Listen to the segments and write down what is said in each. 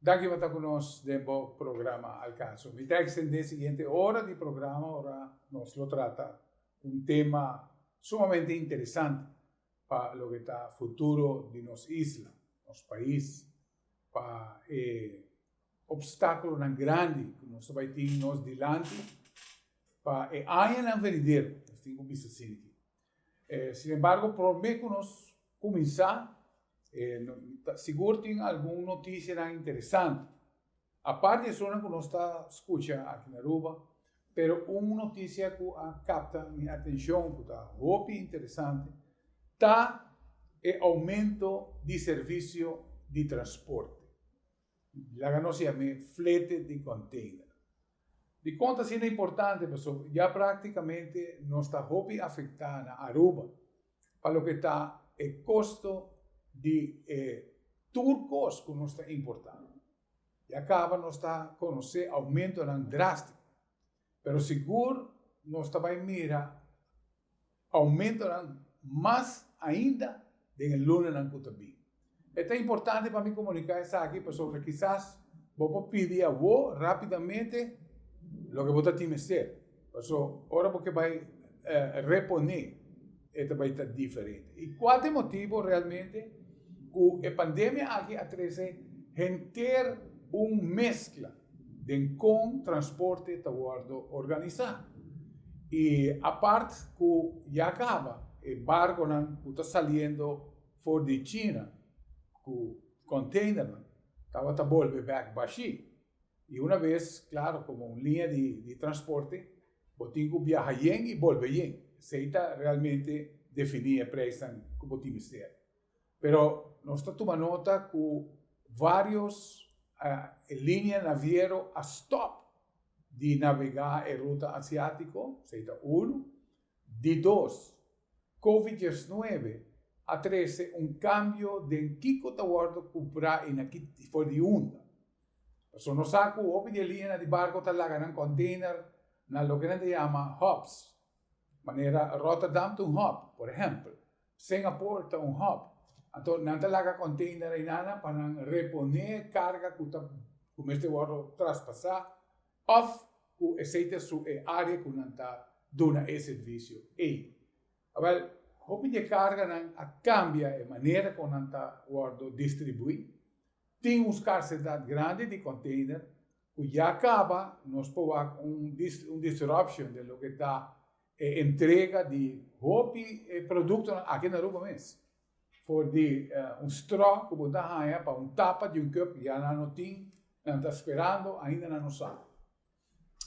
Danki pa ta ku nos den bo programa Alcanzo. Mi ta ekstendé siguiente ora di programa ora nos lo trata un tema sumamente interesante pa loke ta futuro di nos isla, nos pais, pa e opstákulonan grandi ku nos ta bai tin nos dilanti pa e añanan venidero. Nos tin ku bisa asina. Eh, sin embargo, prome cu nos cuminsa, eh, no, ta sigur tin algun noticianan interesante. Apart di esonan cu nos ta scucha aki na Aruba, pero un noticia cu a capta mi atencion, cu ta hopi interesante, ta e aumento di servicio di transporte, laga nos yam'e flete di container. Dikon ta asina importante? Pasobra ya práktikamente nos ta hopi afektá na Aruba pa loke ta e kosto di e tur kos ku nos ta importá. Ya kaba nos ta konosé oumentonan drástiko, pero sigur nos ta bai mira Aumentonan mas ainda den e lunnanan ku ta bin. E ta importante pa mi komuniká esaki pasobra kisas bo por pidi awó rápidamente loke bo ta tin mester, paso ora bo ke bai reponé e ta bai ta diferente. I kua ta e motibu realmente ku e pandemia aki a trese henter un meskla? den kon transporte ta wòrdu organisá i apart ku ya kaba e barkonan ku ta saliendo for di China ku konteinernan tabata bolbe bèk bashí i una bes klaru komo un liña di transporte bo tin ku biaha yen i bolbe yen esei ta realmente definí e preisnan ku bo tin mester. Pero nos ta tuma nota cu varios linea naviero a stop di navega e ruta Asiatico, esey ta uno. Di dos, Covid diesnuebe a trece un cambio den kico ta wordo cumpra y na ki tifo di unda. Pasobra nos sa cu hopi di e lineanan di barco ta laga nan container na loke nan ta yama hubs, manera Rotterdam ta un hub, por ehempel. Singapore ta un hub, anto nan ta laga container einanan pa nan reponé carga cu ta cu mester wordo traspasá of cu esey ta su e área cu nan ta duna e servicio ey. Awel, hopi di e carganan a cambia e manera con nan ta wordo distribuí. Tin un scarcedad grandi di container cu ya caba nos por wak un disruption den loke ta E entrega di hopi e produktonan aki na Aruba mes, for di un strò ku bo ta haña pa un tapa di un kòp, ya nan no tin, nan ta sperando, ainda nan no sa.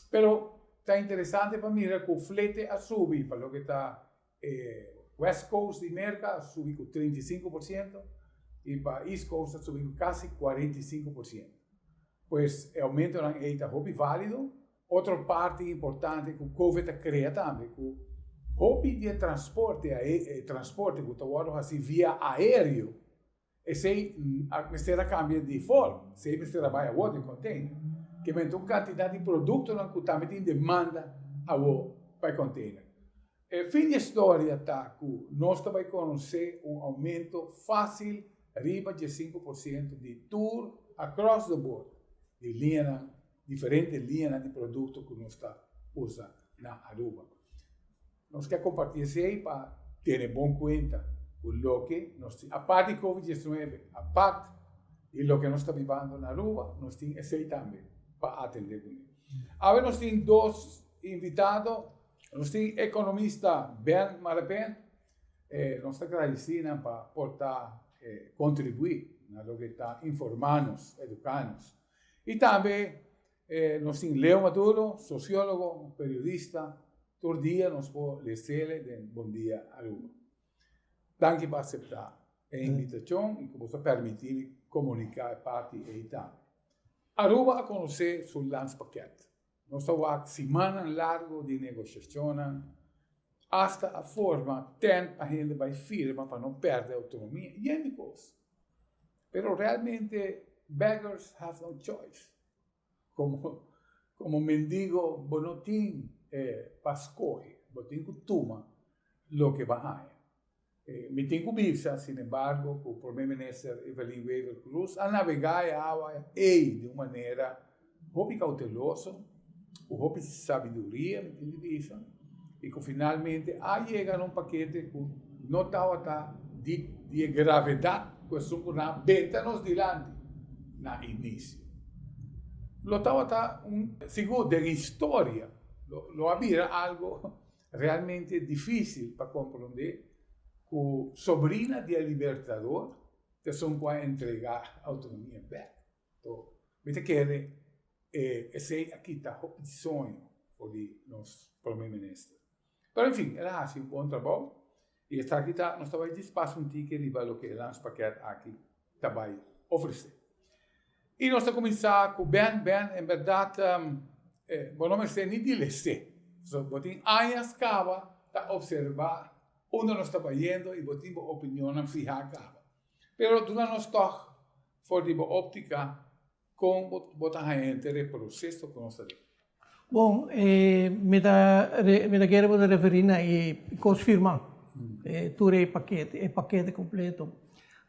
Pero ta interesante pa mira ku flete a subi pa loke ta e West Coast di Merka a subi ku treinta i sinku por siento i pa East Coast a subi ku kasi kuarenta i sinku por siento. Pues e oumentonan ei ta hopi válido Otro parti importante cu Covid ta crea tambe cu hopi di e transporte e transporte cu ta wordo haci via aereo esey a mester a cambia di forma, esey a mester a bay awo den container. Kibamente un cantidad di productonan cu tambe tin demanda awo pa e container. E fin di e storia ta cu nos ta bay conoce un aumento facil riba dje-sinku por ciento di tur across the board di liñanan diferente liñanan di produkto ku nos ta usa na Aruba. Nos ke kompartí esei pa tene bon kuenta ku loke nos tin apart di Covid diecinuebe, apart di loke nos ta bibando na Aruba, nos tin esei tambe pa atendé kuné. Awe nos tin dos invitado, nos tin ekonomista Ben Marapent, e nos ta gradisí nan pa por ta kontribuí na loke ta informá nos, eduká nos Y tambe nos tin Leo Maduro, sociólogo, periodista, tur dia nos por leesele den Bon Dia Aruba. Danki pa acepta e invitacion y cu bo ta permiti mi comunica e parti ey tambe. Aruba a conoce su Landspaket. Nos ta wak simannan largo di negoshacionnan hasta a forma tent pa hende bai firma pa no perde autonomia y hende cos. Pero realmente beggars have no choice. Como como mendigo bo no tin pa scoge, bo tin cu tuma loke bo haña. Mi tin ku bisa, sin embargo, ku Prome Minister Evelyn Wever Croes a navegá e awa ei den un manera hopi kouteloso, ku hopi sabiduria, mi tin di bisa, i ku finalmente a yega na un pakete ku no tawata di di e gravedat ku esun ku nan a benta nos dilanti na inisio. Lo tawata un, sigur den historia, lo a bira algu Realmente difícil pa comprendé cu sobrina di e Libertador ta sun cu a entrega autonomia bek. To, mi ta kere e esey a kita hopi di soño for di nos Prome Minister. Pero, en fin, el a haci un bon trabao. I esaki ta, nos ta bai dispas un tiki riba loke e Landspaket aki ta bai ofresé. I nos ta kuminsá ku bèn, bèn, en bèrdat bo no mester ni di les'é. Pasobra bo tin añas kaba ta opservá unda nos ta bayendo i bo tin bo opinionnan fihá kaba. Pero duna nos tòg for di bo òptika. Kon bo ta haña henter e proseso ku nos ta duna? Bon, mi ta mi ta kere bo ta referí na e kos firmá, tur e pakete, e pakete kompleto.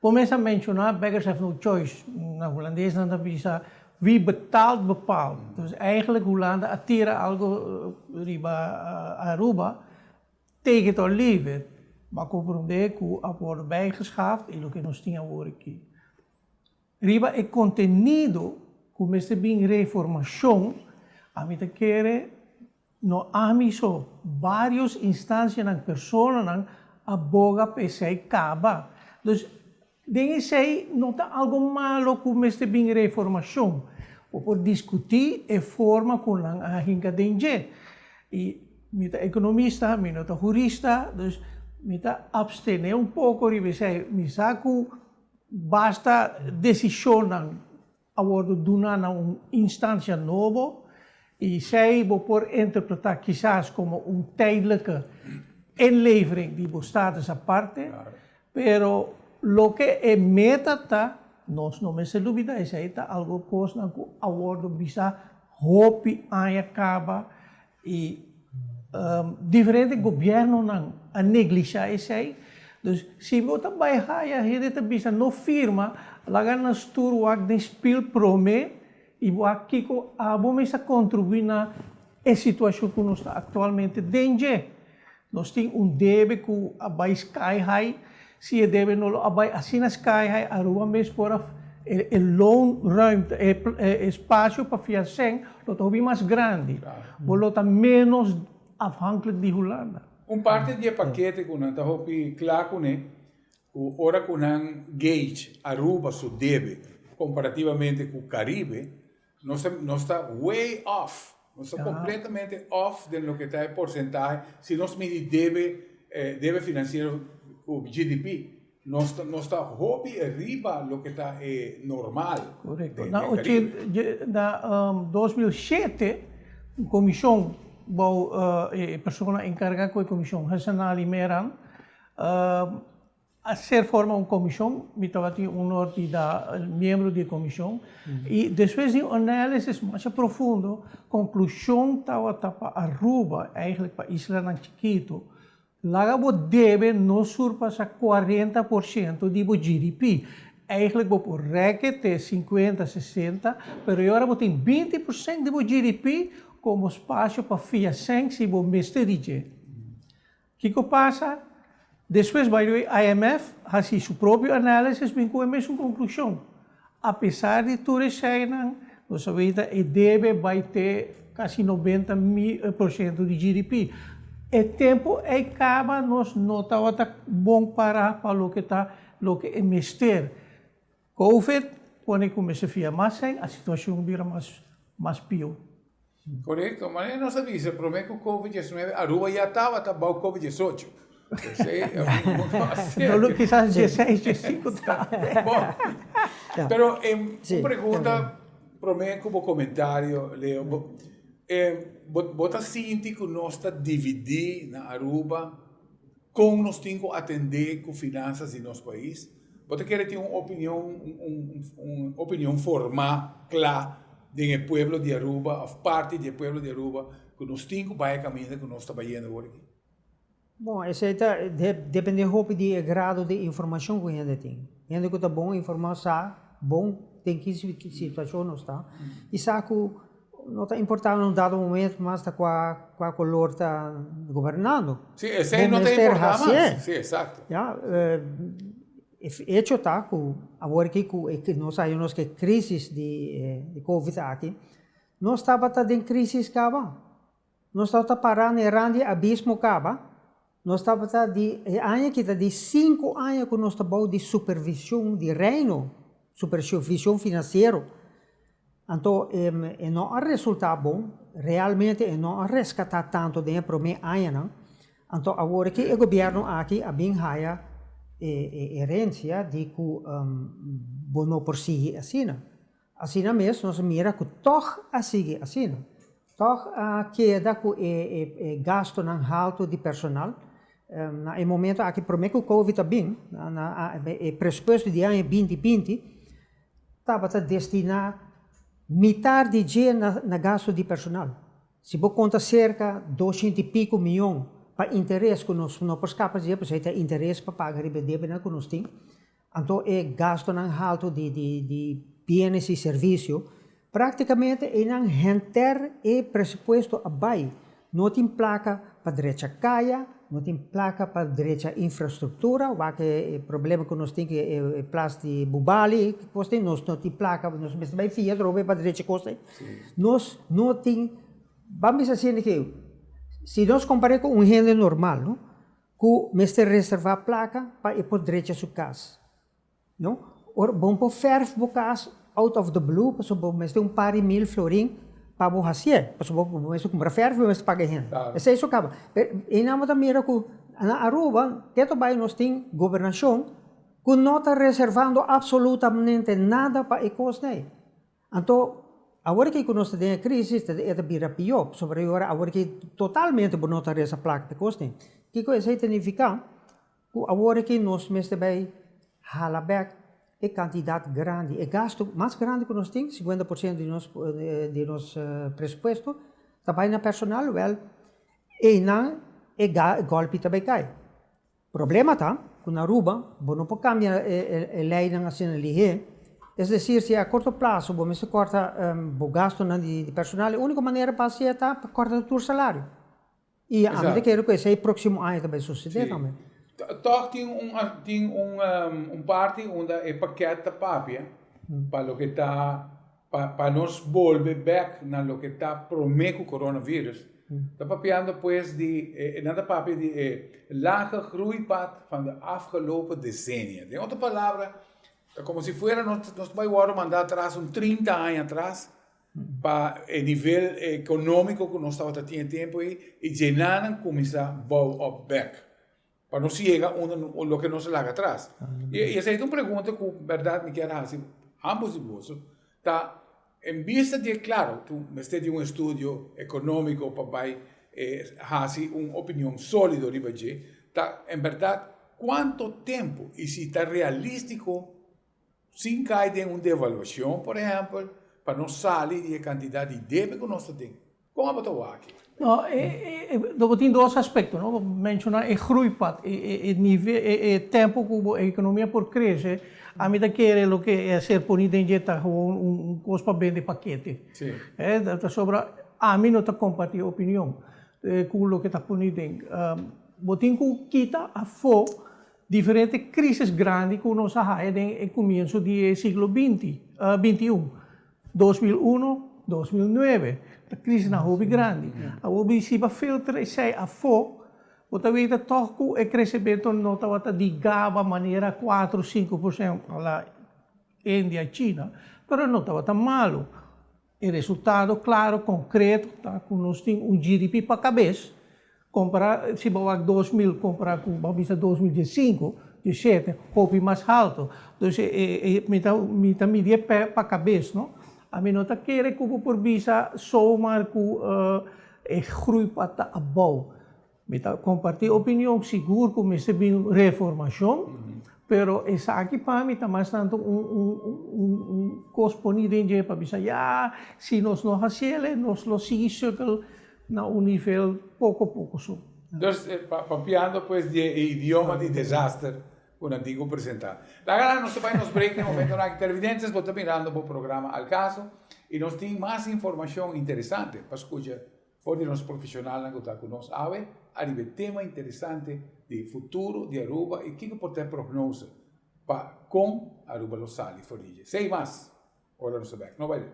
Bo mes a menshoná beggars have no choice, na hulandes nan ta bisa wie betaalt bepaalt. Dus eigentlik Hulanda a tira algu riba Aruba take it or leave it, bo a komprondé ku a wòrdu bijgeschaft i loke nos tin awor aki. Riba e contenido cu mester bin reformacion, ami ta kere, no ami so, varios instancianan, personanan a boga pa esey caba. Dus, den esey no ta algo malo cu mester bin reformacion. Bo por discuti e forma cu nan a hinca den dje. Y mi ta economista, mi no ta jurista, dus mi ta abstene un poco riba esey. Mi sa cu Basta desishonnan a wòrdu duna na un instansia nobo i esei bo por interpretá kisas komo un tèdlike inlevering di bo status aparte, pero loke e meta ta, nos no mester dubidá esei ta algu kosnan ku a wòrdu bisa hopi aña kaba Y diferente gobiernonan a neglishá esei. Dus si bo ta bai haya, hende ta bisa no firma, laga nan stur wak den spil prome y bo a kiko abo mester contribui na e situacion cu nos ta actualmente den dje. Nos tin un debe cu a bay sky high, si e debe no lo a bay asina sky high, Aruba mes por a e loan ruimte, e espacio pa fiasen lo ta hopi mas grandi, bo lo ta menos afhankelijk di Hulanda. Un parte di e pakete cu nan ta hopi cla cune, cu ora cu nan gauge Aruba su debe comparativamente cu Caribe, Nos ta, nos ta way off, nos ta completamente off den loke ta e porcentahe, si nos midi debe, eh, debe financiero cu GDP, nos ta, nos ta hopi riba loke ta e normal. Correcto. Na ochen, na, um, dos mil shete, un comision bou, uh, e persona encarga cu e comision, Hessenali Meran, um, A ser forma un komishon, mi tabatin onor di da miembro di e komishon, i despues di un análisis masha profundo, konklushon tabata pa Aruba, eigentlik pa islanan chikitu, laga bo debe no surpasá kuarenta por siento di bo GDP. Eigentlik bo por rèk'e te sinkuenta, sesenta, pero e ora bo tin binti por sènt di bo GDP, kon bo spasio pa fia sèn si bo mester di dje? Kiko pasa? Despues bay dor IMF hasi su propio análisis bin ku e mesun konklushon. Apesar di tur e sheinan, nos a weta e debe bay te kasi noventa por shento di GDP. E tempu ei kaba, nos no tabata bon para pa loke ta loke e mester. Covid pone ku mester fia mas ei, a situashon bira mas mas pió. Korekto, manera nos a bisa promé ku Covid diesnuebe Aruba ya tabata bou Covid diesocho. P'esei e un mundu mas serio. Dolo kisas dieseis, diesinko ta. Bo, pero e un pregunta promé ku bo komentario Leo, bo bo bo ta sinti ku nos ta dividí na Aruba Con nos tin cu atende cu finanzas di nos pais? Bo ta kere tin un opinion, un opinion forma, cla, den e pueblo di Aruba of parti di e pueblo di Aruba cu nos tin cu bay e caminda cu nos ta bayendo awor aki? Bon, esey ta depende hopi di e grado di informacion cu hende tin. Hende cu ta bon informa sa bon den ki situacion nos ta y sa cu. No ta importa un dado moment mas ta cua cua color ta gobernando. Sí, esey no ta importa mas. Sí, exacto. Ya, e hecho ta cu awor aki cu e nos a haña nos cu e crisis di covid aki, nos tabata den crisis caba. Nos tabata pará na e ran di abismo kaba. Nos tabata di e aña kita di sinku aña ku nos ta bou di supervision di Reino, supervision finansiero. Anto e no a resultá bon, realmente e no a reskatá tantu den e promé añanan. Anto awor ke e gobièrnu aki a bin haya e herensia di ku bo no por sigui asina. Asina mes nos a mira cu tog a sigui asina. Tog a keda cu e gastonan halto di personal. Na e momento aki prome cu covid a bin, e presupuesto di aña binti binti tabata destina mitar di dje na gasto di personal. Si bo conta cerca doshienta y pico mion pa interes cu nos no por scapa dje, pasobra e ta interes pa paga riba e debenan cu nos tin. Anto e gastonan haltu di bienes i servisio, práktikamente einan henter e presupuesto a bai. No tin plaka pa drecha kaya, no tin plaka pa drecha infrastruktura, wak e problema ku nos tin ku e plas di Bubali, e kos tin, nos no tin plaka, nos mester bai fia trobe pa drecha e kos ei. Nos no tin, bambisa asina ke, si nos kompar'é ku un hende normal no. Ku mester reservá plaka pa e por drecha su kas. No ora bo por fèrf bo kas out of the blue pasobra bo mester un par di mil florin pa bo hasié, pasobra bo mester kumpra fèrf i bo mester paga e hende. Esei su kaba. Pero einan bo ta mira ku na Aruba te tobaya nos tin gobernashon ku no ta reservando apsolutamente nada pa e kosnan ei. Anto, awor ke ku nos ta den e krisis, e ta bira pió, pasobra e ora awor ke totalmente bo no ta resa plaka pa e kos tin. Kiko esei ta nifiká? Ku awor ke nos mester bai hala bèk e kantidat grandi, e gastu mas grandi ku nos tin, sikuenta por siento di nos presupuesto, ta bai na personal, wèl, einan e gòlpi ta bai kai. Problema ta cu na Aruba bo no por cambia e leynan asina lihe, es decir si a corto plazo bo mester corta bo gastonan di personal e unico manera pa haci'e ta pa corta tur salario y a mi ta kere cu esey proximo aña ta bay sucede tambe. Toch tin un tin un un parti unda e paket ta papia pa loke ta Pa pa nos bolbe bek na loke ta prome ku coronavirus ta papiando pues di e nan ta papia di e laga groeipad van de afgelopen decennia. Den otro palabra ta como si fuera nos nos bai wordo manda atras un trinta aña atras pa e nivel economico ku nos tabata tin e tempo ei y dje nan a kuminsá bou op bek. Pa nos yega unda loke nos a laga atras. Y esei ta un pregunta cu berdad mi kier haci ambos di boso, ta en bista di e claro cu mester di un estudio economico pa bay haci un opinion solido riba dje, ta en berdad cuanto tempo y si ta realistico. sin kai den un devaluashon, por ehèmpel, pa nos sali di e kantidat di debe ku nos ta den. Kon abo ta wak? No, lo bo tin dos aspekto, no. Bo menshoná e grui part, e nivel, e tempu ku bo ekonomia por krese, ami ta kere loke e ser poní den dje ta gewoon un kos pa bende pakete. Pasobra ami no ta kompartí e opinion ku loke ta poní den. Bo tin ku kita afó Diferente krísis grandi ku nos a haña den e kumienso di e siglo binti, binti un, dos mil uno, dos mil nuebe, ta krísisnan hopi grandi. Awor bo hisiba filter esei afó, bo ta weta tòg ku e kresementu no tabata di gaba manera kuatro, sinku por sento a la India i China, pero no tabata malu. E resultado klaro, konkreto ta ku nos tin un GDP pa kabes, kompará si bo wak dos mil kompará ku bo a bisa dos mil diesinko, diesete, hopi mas haltu. Dus mi ta midi e pè pa kabes, no. A mi no ta kere ku bo por bisa somer ku e grui pa ta abou. Mi ta kompartí opinion, sigur ku mester bin un reformashon, pero esaki pa mi ta mas tantu un kos poní den dje pa bisa, ya, si nos no hasi el e nos lo sigui sukkel na un nivel poko poko so. Dus, papiando pues di e idioma di desaster ku nan tin ku presentá. Laga nan nos bai nos break den momentonan aki. Televidentes, bo ta mirando bo programa Al Caso i nos tin mas informashon interesante pa skucha. For di nos profesionalnan ku ta ku nos awe ariba e tema interesante di e futuro di Aruba i kiko por ta e prognose pa kon Aruba lo sali for di dje. Sei mas ora nos ta bèk. No bai lek.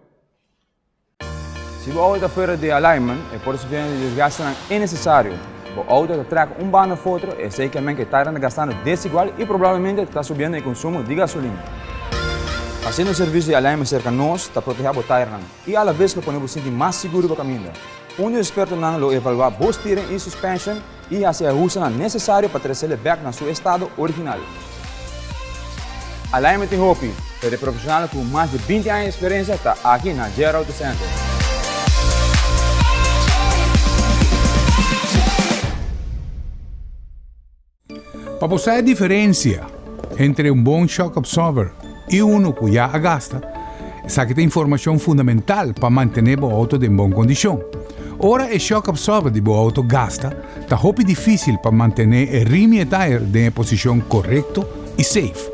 Si bo auto ta fuera di alignment, e por sufriendo di desgastenan innesesario. Bo auto ta trèk un banda of otro, esei ke men ke tairan ta gastando desigual i probablemente ta subiendo e konsumo di gasolina. Hasiendo un servisio di alignment serka nos ta protehá bo tairannan. I a la bes lo pone bo sinti mas sigur riba kaminda. Un di spertonan lo evaluá bos teren i suspension i hasi e ahustonan nesesario pa tresele bèk na su estado original. Alignment tin hopi, pero e profesionalnan ku mas di binti aña eksperensia ta aki na JR Auto Center. Pa bo sa e diferensia entre un bon shock absorber i unu ku ya a gasta, esaki ta informashon fundamental pa mantené bo outo den bon kondishon. Ora e shock absorber di bo outo gasta, ta hopi difísil pa mantené e rim i e tire den e posishon korekto i seif.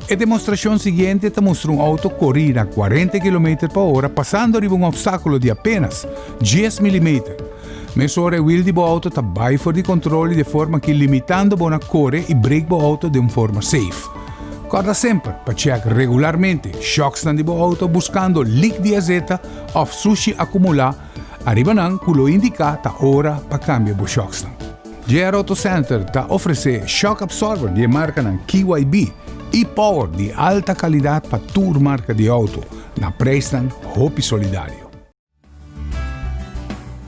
E demostrashon siguiente ta mustra un outo kori na kuarenta kilometer pa ora pasando riba un opstákulo di apénas dies milimeter, Mesora e wiel di bo auto ta bai for di control y de forma ki limitando bo na core y brake bo auto den forma safe. Corda semper pa check regularmente shocksnan di bo auto buscando leak di azeta of sushi acumula ariba nan cu lo indica ta ora pa cambia bo shocksnan. JR Auto Center ta ofrece shock absorber di e marcanan KYB y power di alta calidad pa tur marca di auto na prijsnan hopi solidario.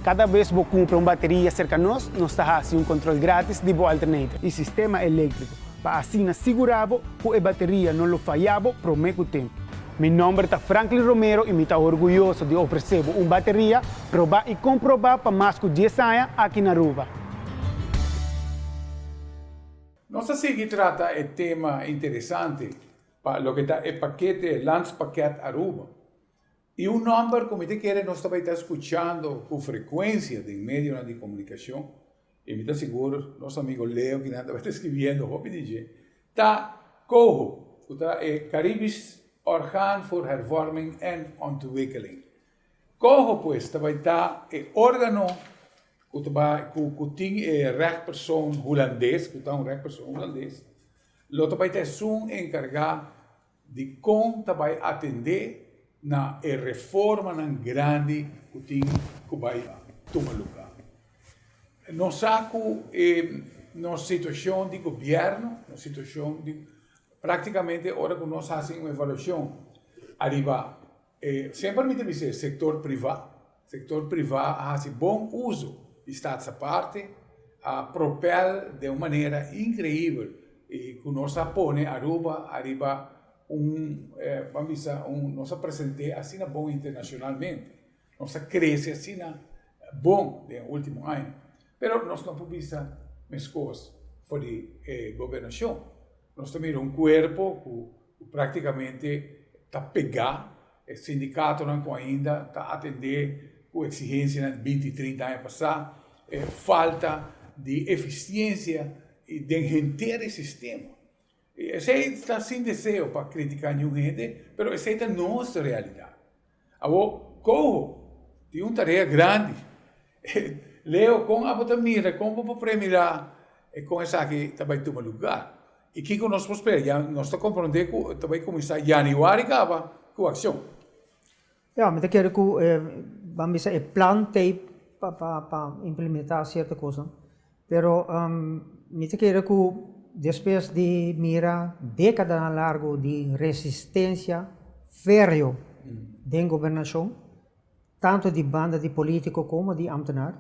Kada bes bo kumpra un bateria serka nos, nos ta hasi un kontrol grátis di bo alternator i sistema eléktriko pa asina sigurá bo ku e bateria no lo fayá bo promé ku tempu. Mi nòmber ta Franklin Romero i mi ta orguyoso di ofresé bo un bateria probá i komprobá pa mas ku dies aña aki na Aruba. Nos ta sigui trata e tema interesante pa loke ta e pakete Landspakket Aruba. I un nòmber ku mi ta kere nos ta bai ta skuchando ku frekuensia den medionan di komunikashon, i mi ta sigur nos amigu Leo ki nan ta bai ta eskribiendo hopi di dje, ta COHO, ku ta e Caribisch Orgaan voor Hervorming en Ontwikkeling. COHO pues ta bai ta e órgano ku ta bai ku ku tin e règpersoon hulandes, ku ta un règpersoon hulandes, lo ta bai ta esun enkargá, di kon ta bai atendé na e reformanan grandi ku tin ku bai tuma lugá. Nos sa ku e nos situashon di gobièrnu, nos situashon di, práktikamente ora ku nos hasi un evaluashon ariba E semper mi ta bisa e sektor privá, sektor privá a hasi bon uso di Staatsapparte, a propèl den un manera inkreibel i ku nos a pone Aruba ariba un, ban bisa un, nos a present'é asina bon internashonalmente, nos a krese asina bon den e último aña. Pero nos no por bisa meskos for di e gobernashon. Nos ta mira un kuerpo ku práktikamente ta pegá e sindikatonan ku ainda ta atendé ku eksigensianan binti trinta aña pasá, e falta di efisiensia den henter e sistema. Esei ta sin deseo pa kritiká niun hende, pero esei ta nos realidat. Awo Coho tin un tarea grandi. Leo, con abo ta mira con bo por premira e con esaki ta bay tuma lugar? Y kico nos por spera? Ya nos ta comprende cu ta bay cuminsa Januari caba cu accion. Ya, mi ta kere cu e, ban bisa e plan tey pa implementa cierto cosnan. Pero mi ta kere ku despues di mira dekadanan largu di resistensia férreo den gobernashon, tantu di banda di polítiko komo di ámtenar,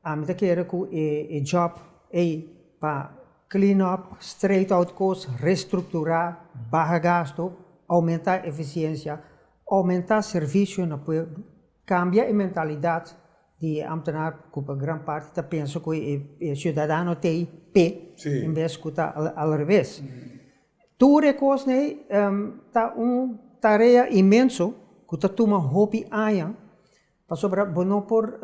ami ta kere ku e jòb ei pa clean up, straight out kos, restrukturá, baha gastu, oumentá efisiensia, oumentá servisio na pueblo, kambia e mentalidat Di e ambtenaar ku pa gran parti ta pensa ku e siudadano ta ei p'e en bes ku ta al reves. Tur e kosnan ei ta un tarea inmenso ku ta tuma hopi aña pasobra bo no por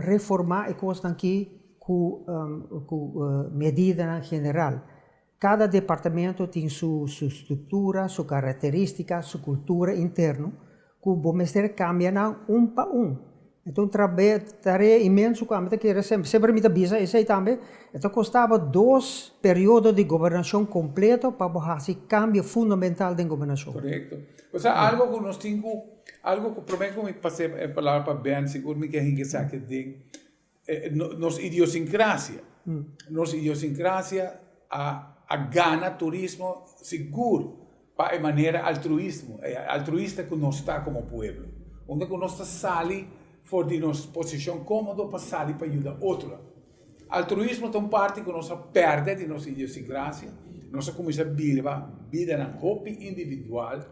reformá e kosnan aki ku medidanan general. Cada departamento tin su su structura, su caracteristica, su cultura interno cu bo mester cambia nan un pa un. E ta un trabeo, tarea inmenso cu ami ta kere semper, semper mi ta bisa esey tambe, e ta costa bo dos periodo di gobernacion completo pa bo haci cambio fundamental den gobernacion. Correcto. Osea algo cu nos tin cu, algo cu, prome cu mi pasé e palabra pa Ben, sigur mi ke hinca esaki den. Nos idiosincrasia, nos idiosincrasia a gana turismo sigur pa e manera altruismo, altruista cu nos ta como pueblo. Unda cu nos ta sali for di nos posicion comodo pa sali pa yuda otronan. Altruismo ta un parti cu nos a perde di nos idiosincrasia, nos a cuminsa birba bidanan hopi individual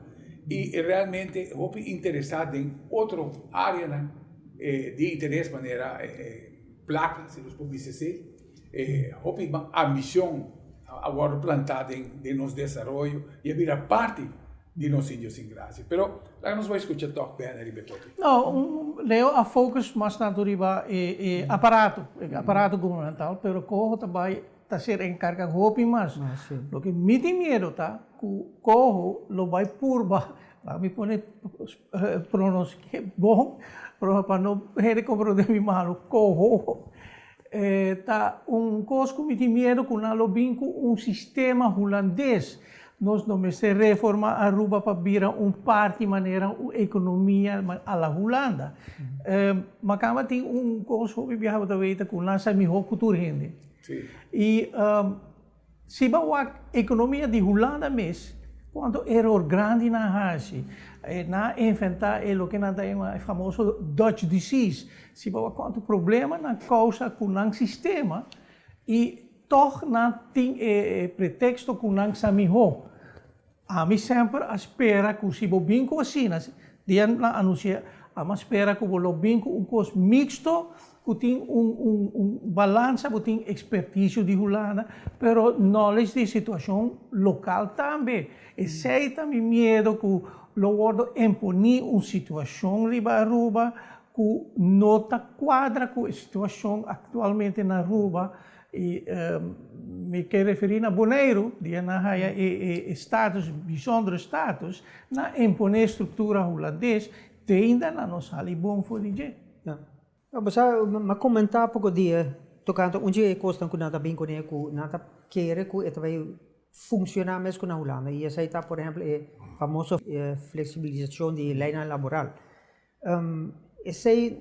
y realmente hopi interesa den otro areanan. E di interes manera e placa si nos por bisa si, e hopi ambición a worde planta den nos desaroyo y a bira parti di nos sin Dios sin gracia. Pero laga nos bai scucha tok Bena riba e topic. No, Leo a focus mas tanto riba e aparato, e aparato gubernamental, pero coho ta bai. Ta ser encarga hopi mas. Loke mi tin miedo ta cu Coho lo bay purba, laga mi pone pronostico bon pa no hende comprende mi malo, Coho ta un cos cu mi tin miedo cu nan lo bin cu un sistema Hulandes. Nos no mester reforma Aruba pa bira un parti manera un economia a la Hulanda. Macamba tin un cos hopi biaha bo ta weten cu nan sa miho cu tur hende. Y si bo a wak economia di Hulanda mes, cuanto eror grandi nan haci. Nan a inventa e loke nan ta yama e famoso Dutch disease. Si bo a wak cuanto problema nan causa cu nan sistema y toch nan tin e pretexto cu nan sa miho. Ami semper a spera cu si bo bin cu asina, dia nan anuncia, ami a spera cu bo lo bin cu un cos mixto cu tin un un un balansa, bo tin experticio di Hulanda, pero knowledge di situacion local tambe, esey ta mi miedo cu lo wordo emponi un situacion riba Aruba cu no ta cuadra cu e situacion actualmente na Aruba, I mi ke referí na Boneiru, di e nan haya e status, bishondere status, na imponé struktura hulandes, teinda nan no sali bon for di dje. Bo sa, m'a komentá poko dia tokante un dje e kosnan ku nan ta bin kuné ku nan ta kere ku e ta bai funshoná mes ku na Hulanda, i esei ta, por ehèmpel, e famoso fleksibilisashon di leinan laboral. esei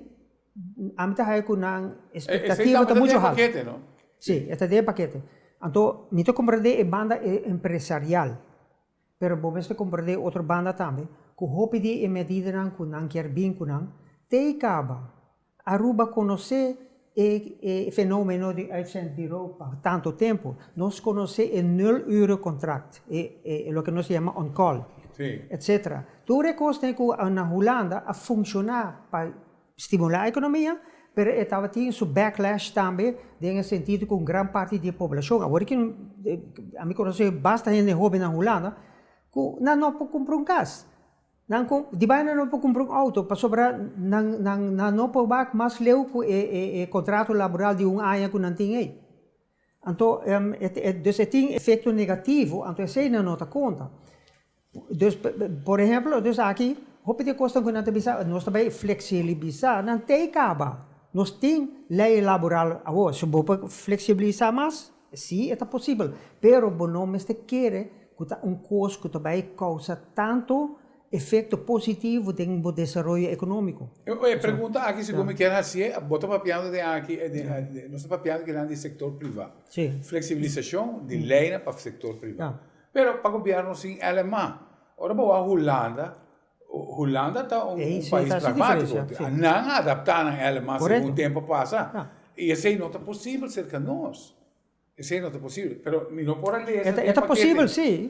ami ta haya ku nan expectativa ta mucho haltu. Esei tambe ta den pakete no? Si, e ta den pakete. Anto mi ta komprende e banda empresarial, pero bo mes ta komprende e otro banda tambe, ku hopi di e medidanan ku nan kier bin ku nan, te kaba Aruba konosé E fenomeno di uitzend di ropa pa tantu tempu, nos konosé e nul ure kontrakt, e loke nos ta yama on call, etc. Tur e kosnan ku na Hulanda a funshoná pa stimulá ekonomia, pero e tabatin su backlash tambe den e sentido ku un gran parti di e poblashon, awor ke ami konosé basta hende hoben na Hulanda ku nan no por kumpra un kas. Nan ku di bai nan no por kumpra un outo pasobra nan nan nan no por bak mas leu ku e e e kontrato laboral di un aña ku nan tin ei. Anto dus e tin efekto negativo anto esei nan no ta konta. Dus por ehèmpel dus aki hopi di e kosnan ku nan ta bisa nos ta bai fleksilibisá nan tei kaba. Nos tin lei laboral awor so bo por fleksibilisá mas. Sí, e ta posibel, pero bo no mester kere ku ta un kos ku ta bai kousa tantu efekto positivo den bo desaroyo ekonómiko. E pregunta aki segun mi ken hasié, bo ta papiando den aki, nos ta papiando kinan di sektor privá, fleksibilisashon di leinan pa sektor privá, pero pa gobièrnu sin LMA. Ora bo wak Hulanda. Hulanda ta un pais pragmátiko, nan a adaptá nan alemán segun tempu pasa, i esei no ta posibel serka nos, esei no ta posibel, pero mi no por a lesa den pakete.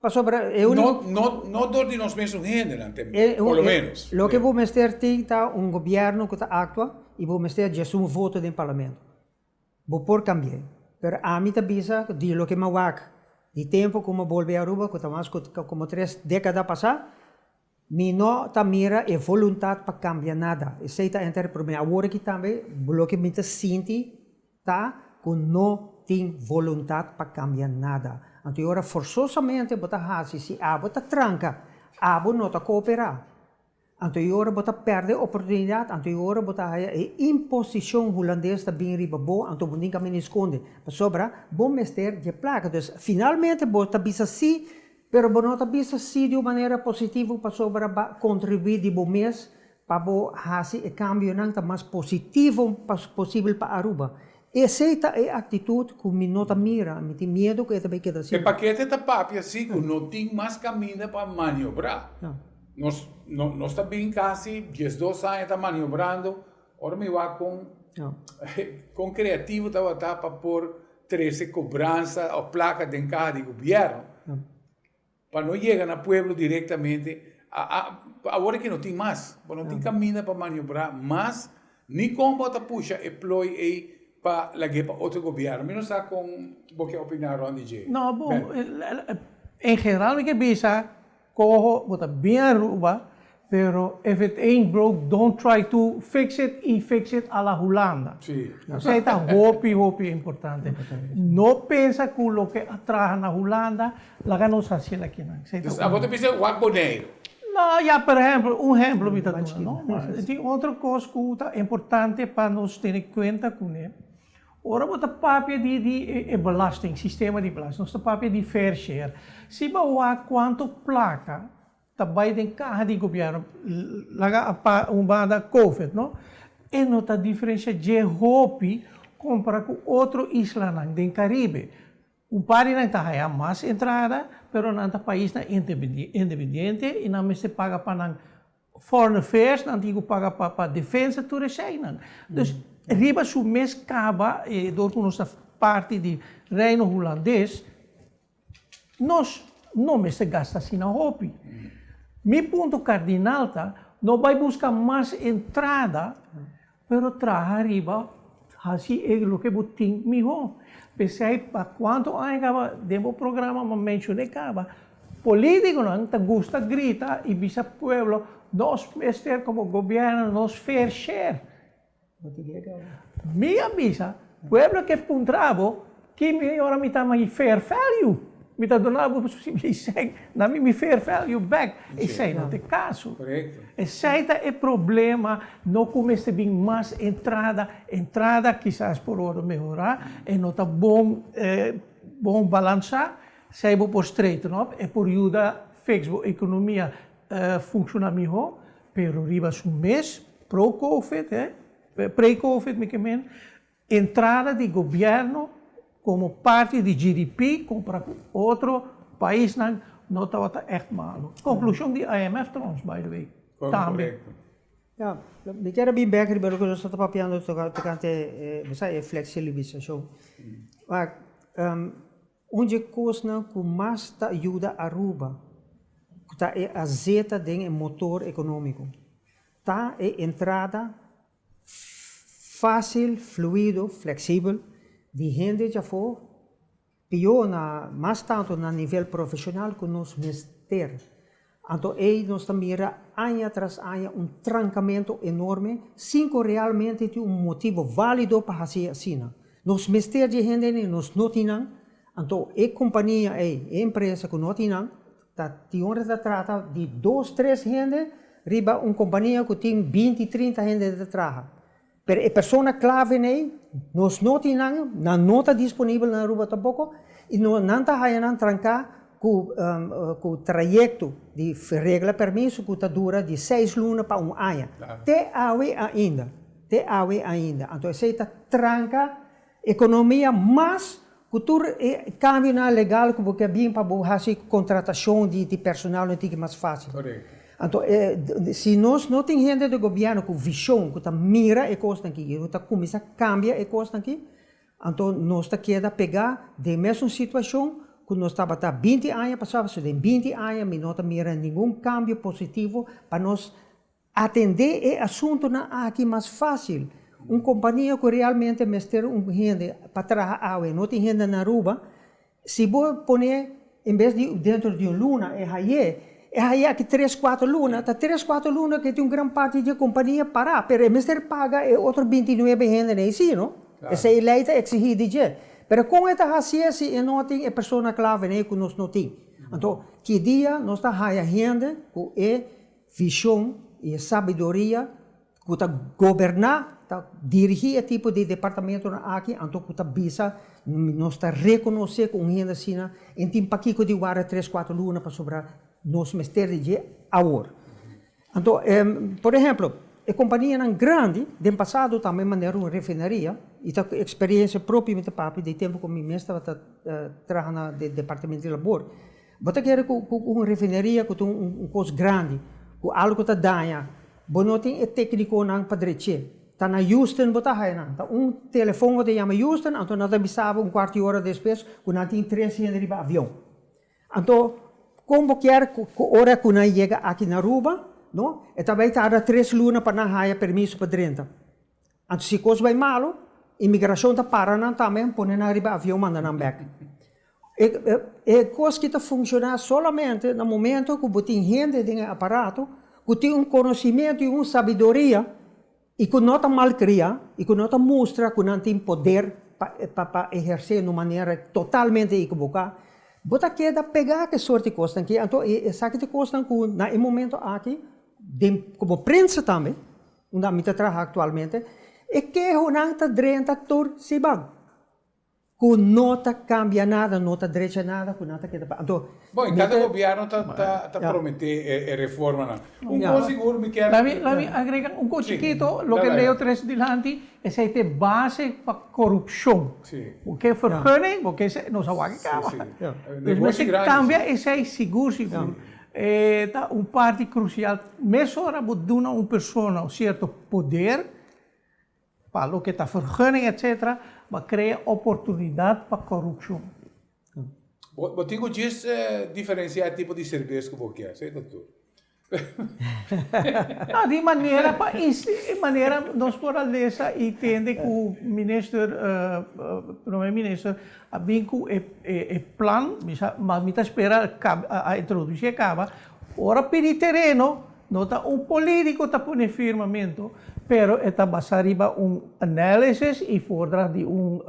No dor di nos mes un hendenan te mester, por lo menos. Loke bo mester tin ta un gobièrnu ku ta aktua i bo mester djesú un voto den parlamento. Bo por kambi'é. Pero ami ta bisa ku di loke mi wak di tempu ku mi a bolbe Aruba, ku ta mas ku komo tres dékada pasá, mi no ta mira e voluntat pa kambia nada. Esei ta enter promé. Awor aki tambe loke mi ta sinti ta ku no tin voluntat pa kambia nada. Anto e ora forsosamente bo ta hasi. Si abo ta tranka, abo no ta kooperá. Anto e ora bo ta pèrdè e oportunidat, anto e ora bo ta haya e imposishon hulandes ta bini riba bo, anto bo tin ka mene skonde, pasobra bo mester dje plaka. Dus, finalmente bo ta bisa sí, pero bo no ta bisa sí di un manera positivo, pasobra bo a kontribuí di bo mes pa bo hasi e kambionan ta mas positivo posibel pa Aruba. Esei ta e aktitut ku mi no ta mira. Mi tin miedu ku e ta bai keda asina. E pakete ta papia si ku no tin mas kaminda pa maniobrá. Nos nos ta bin kasi dies dos aña ta maniobrando, ora mi wak kon kon kreativo tabata pa por trese kobransa òf plaka den kaha di gobièrnu. Pa no yega na pueblo directamente, pa awor ki no tin mas, bo no tin caminda pa maniobrá mas, ni con bo ta pusha e plooi ey pa lag'e pa otro gobierno. Mi no sa con bo ke opiná rond di dje. No, bo, en general mi ke bisa, coho, bo ta bien Aruba, Pero if it ain't broke don't try to fix it y fix it a la Hulanda. Esey ta hopi hopi importante. No pensa cu loke a traha na Hulanda laga nos haciel akinan. Esey ta uno. Abo ta bisa wak Boneiru. No, ya per ehemplo, un ehemplo mi ta duna no. Ma e tin otro cos cu ta importante pa nos tene cuenta cune. Ora bo ta papia di di e belasting, sistema di belasting, nos ta papia di fair share. Si bo wak cuanto placa. ta bai den kaha di gobièrnu, laga apart un banda covid no, e no ta diferensha dje hopi kompara ku otro islanan den Karibe. Un par di nan ta haya mas entrada, pero nan ta paisnan independiente i nan mester paga pa nan foreign affairs, nan tin ku paga pa defensa, tur eseinan. Dus, riba su mes kaba, e dor ku nos ta parti di Reino Hulandes, Nos no mester gasta asina hopi. Mi punto kardinal ta, no bai buska mas entrada, pero traha riba hasi e loke bo tin mihó. P'esei pa kuantu aña kaba den bo programa bo menshoné kaba, polítikonan ta gusta grita i bisa pueblo, nos mester komo gobièrnu nos fair share. Mi a bisa pueblo ke puntra bo ki mi ora mi ta mi fair value mi ta dona bo mi sèn na mi mi fair value back esei no te kaso esei ta e problema no ku mester bin mas entrada entrada kisas por wòrdu mehorá e no ta bon bon balansá esei bo por straighten up e por yuda fiks bo ekonomia funshona mihó Pero riba su mes pro covid, pre covid mi ke meen, entrada di gobièrnu komo parti di GDP kompara ku otro paisnan no tabata ègt malu. Konklushon di IMF tròns, by the way, tambe. Ya, mi kier a bin bèk riba loke nos tabata papiando tokante, e fleksilibisacion. Un dje kosnan ku mas ta yuda Aruba ku ta e azeta den e motor ekonómiko, ta e entrada fásil, fluido, fleksibel di hende dje afó, pio na mas tantu na nivel profeshonal ku nos mester. Anto ei nos ta mira aña tras aña un trankamentu enorme sin ku realmente tin un motibu válido pa hasi asina. Nos mester dje hendenan i nos no tin nan, anto e kompania ei, e empresa ku no tin nan, ta dihora ta trata di dos, tres hende riba un kompania ku tin binti, trinta hende ta traha. Pero e persona claven ey, nos no tin nan, nan no ta disponibel na Aruba tampoco, y no, nan ta haya nan tranca cu, cu trayecto di regla permiso cu ta dura di seis luna pa un aña. Te awe ainda, te awe ainda. Anto esey ta tranca. Economia mas cu tur e cambionan legal cu bo ke bin pa bo haci contratacion di personal no tin ki mas facil. Anto si nos no tin hende den gobierno cu vision cu ta mira e cosnan aki y no ta cuminsa cambia e cosnan aki anto nos ta keda pega den mesun situacion cu nos tabata binti aña pasaba so den binti aña mi no ta mira ningun cambio positivo pa nos Atendé e asuntunan aki mas fásil. Un kompania ku realmente mester un hende pa traha awe i no tin hende na Aruba, si bo pon'é en bes di dentro di un luna, e hai'é, e hai'é aki tres, kuater luna, ta tres, kuater luna ku e tin un gran parti di e kompania pará, pero e mester paga e otro binti nuebe hendenan eisí, no? P'esei e lei ta eksigí di dje. Pero kon e ta hasié si e no tin e persona klavenan ei ku nos no tin? Anto, ki dia nos ta haña hende ku e Vision i e sabiduria ku ta goberná, ta dirigí e tipo di departamentonan aki, anto ku ta bisa nos ta rekonosé ku un hende asina e tin pakiko di wara tres kuater luna pasobra nos mester di dje awor. Anto, por ehemplo, e kompanianan grandi den pasado ta men manera un refineria, i ta ku eksperensia propio mi ta papia di e tempu ku mi mes tabata traha na departamento di labor, Bo ta guera ku un refineria ku ta un kos grandi, ku algu ta daña, bo no tin e teknikonan pa drech'é. Ta na Houston bo ta haya nan, ta un telefòn bo ta yama Houston, anto nan ta bisa bo un kuart di ora despues ku nan tin tres hende riba avion. Anto kon bo kier ku ora ku nan yega aki na Aruba, no? E ta bai tarda tres luna pa nan haya permiso pa drenta. Anto si kos bai malu, imigrashon ta para nan tambe, pone nan riba avion manda nan bek. E e kos ki ta funshoná solamente na momento ku bo tin hende den e aparato ku tin un konosimentu i un sabiduria i ku no ta malkriá i ku no ta mustra ku nan tin poder pa pa pa ehersé na un manera totalmente ikeboká, bo ta keda pegá ku e sort di kosnan ki. Anto esaki ta kosnan ku na e momento aki den komo prensa tambe. Unda mi ta traha aktualmente, e kehonan ta drenta tur siban, ku no ta kambia nada, no ta drecha nada, ku nan ta keda pa anto. Bo, i kada gobièrnu ta ta promet'é e reformanan. Un kos sigur mi kier. Lami lami agrega un kos chikito, loke Leo tres dilanti, esei ta e base pa korupshon. Bo ke vergunning, bo ke esei, nos a wak e kaba. Negoshi grandi. Nos mester kambia esei sigur sigur. E ta un parti krusial. Mesora bo duna un persona un sierto poder pa loke ta vergunning etc. Bo krea oportunidat pa korupshon. Bo tin ku djis diferensia e tipo di serves ku bo kier, si ta tur. No, di manera pa manera nos por a lesa i tende ku minister, Prome Minister, a bin cu e plan, mas mi ta spera a introduci e caba, ora pidi tereno, no ta un politico ta pone firmamento, pero e ta basa riba un analysis y voordracht di un.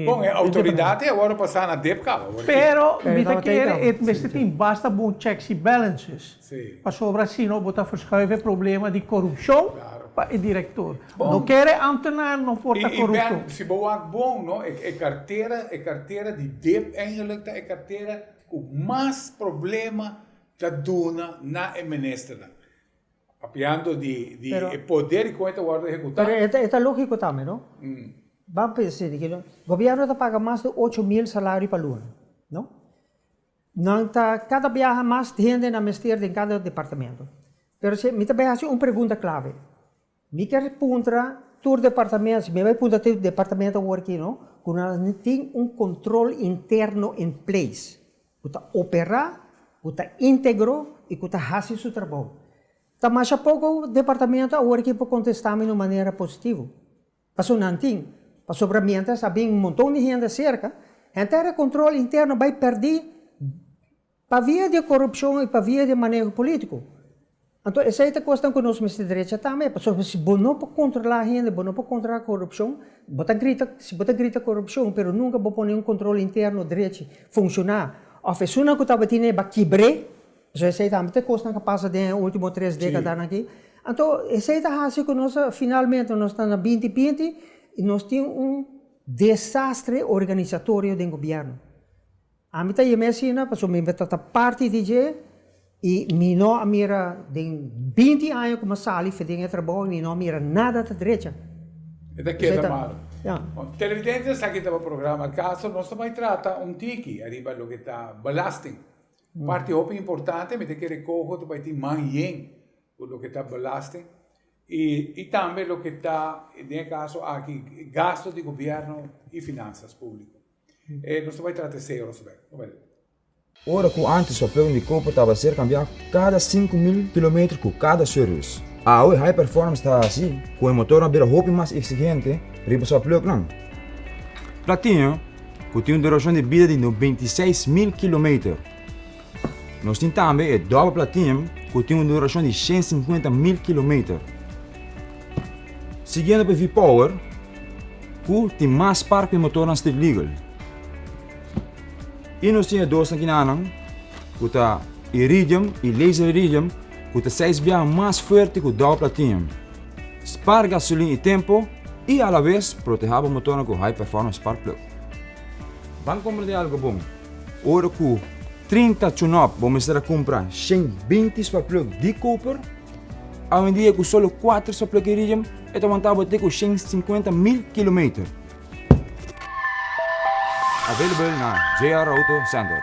Bon, e autoridad e a worde pasa na dep caba. Pero mi ta kere e mester tin basta bon checks y balances. Pasobra asina bo ta verschuive e problema di corupcion pa e director. No kere ambtenaar no por ta corupto. Si bo wak bon, no, e cartera, e cartera di dip eigenlijk ta e cartera cu mas problema ta duna na e ministernan. Papiando di e poder y con e ta wordo ehecuta. Pero e ta logico tambe, no. Bam pensa asina, gobierno ta paga mas di ocho mil salario pa luna, no. Nan ta cada biaha mas hende nan mester den cada departamento. Pero si mi ta bay haci un pregunta clave. Mi kier puntra tur departamento, si mi bay puntra tur departamento awor aki no, cu nan tin un control interno in place, cu ta opera, cu ta integro y cu ta haci su trabou. Ta masha poco departamento awor aki por contesta mi na un manera positivo. Paso nan tin. Pasobra mientras a bin un monton di hende cerca, hende a recontrol interno bay perdi pa via di e corupcion y pa via di e maneho politico. Anto esey ta cosnan cu nos mester drecha tambe, pasobra si bo no por controla hende, bo no por controla corupcion, bo ta grita, si bo ta grita corupcion pero nunca bo pone un control interno drechi, funciona, of esun nan cu tabatin ey ba kibre, So esei tambe ta e kosnan ku a pasa den e ultimo tres dekadanan aki. Anto esei ta hasi ku nos finalmente nos ta na binti binti i nos tin un desastre organisatorio den gobièrnu. Ami ta yam'é asina pasobra mi mester ta parti di dje i mi no a mira den binti aña ku mi a sali den e trabou mi no a mira nada ta drecha. E ta keda malu. Bon, televidentes, esaki tabata programa Al Caso. Nos ta bai trata un tiki ariba loke ta belasting. Un parti hopi importante mi ta kere koho ta bai tin man yen ku loke ta belasting i tambe loke ta den e kaso aki gasto di gobièrnu i finansas públiko. Nos ta bai trata e sero nos bek. Tabata di. Ora ku ántes papel di koper tabata ser kambiá kada sinku mil kilometer ku kada servis, awe High Performance ta hasi ku e motornan bira hopi mas eksigente riba su apleknan. Platinho, cu tin un duracion di bida di no beinti seis mil kilometer. Nos tin tambe e Double Platinum, cu tin un duracion di shen sinkuenta mil kilometer. Siguiendo p'e V-Power, cu tin mas spark p'e motornan street legal. I nos tin e dos nakinan, cu ta Iridium i Laser Iridium, cu ta seis biaha mas fuerte cu Double Platinum. Spar gasolin i tempo i a la bes protehá bo motornan ku High Performance Spark Plug. Ban kumpra den algu bon. Ora ku trinta tune-up bo mester a kumpra shen binti spark plug di koper. Awendia ku solo kuater spark plug Iridium e ta wantá bo te ku shen sinkuenta mil kilometer. Available na JR Auto Center.